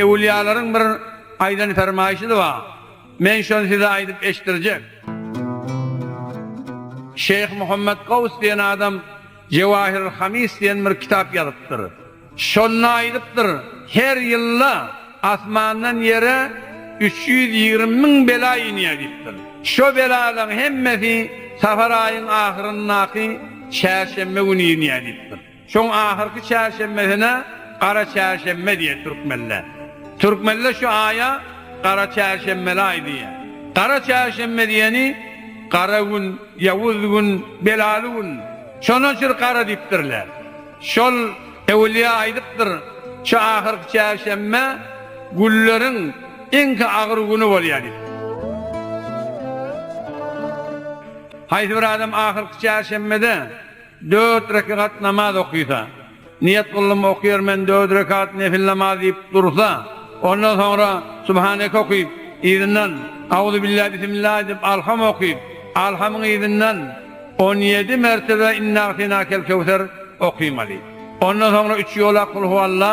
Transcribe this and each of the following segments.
Ewliýalaryň bir aýdan fermaýşy-da bar. Men şony size aýdyp eşitdirjek. Şeýh Muhammet Gaws diýen adam Jewahirul Hamis diýen bir kitap ýazypdyr. Şonda aýdypdyr, Her ýylda asmandan ýere üç ýüz ýigrimi müň bela inýär diýipdir. Şo belalaryň hemmesi safar aýyň ahyryndaky çärşenbe güni inýär diýipdir. Şoň ahyrky çärşenbesine Gara çärşenbe diýer türkmenler. Türkmenler şu aýa Gara çärşenbeli aý diýer. Gara çärşenbe diýeni gara gün, ýawuz gün, belaly gün. Şonuň üçin gara diýipdirler. Şol öwülýä aýdypdyr, şu ahyrky çärşenbe günleriň iňki agyr güni bolýar diýip. Haýsy bir adam ahyrky çärşenbede. Dört rekegat namaz okysa, Niýet gyldym okyar men dört rekegat nefil namaz diýip dursa, ondan soňra Subhaneke okyp, yzyndan Auzubillah Bisimillah aýdyp Alham okyp, Alhamyň yzyndan on ýedi mertebe Inna'atenakel kewser okymaly. Ondan soňra üç ýolak Kul huwalla,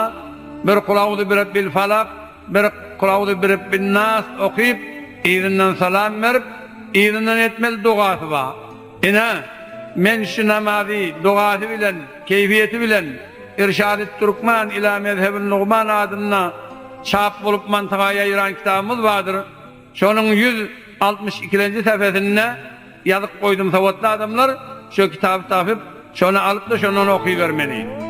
bir Kul auzu birabbil falak, bir Kul auzu birabbin nas okyp, yzyndan salam berip, yzyndan etmeli dogasy bar. Ine, men şu namazy dogasy bilen, keýfiýeti bilen Irşadyt Türkmen ila mezhebin lugman adynda çap bolup mantyga ýaýran kitabymyz bardyr, şonuň ýüz altmyş ikilenji sähfesinde ýazyp goýdum, sowatly adamlar şo kitaby tapyp, şony alyp-da şondan okybermeli.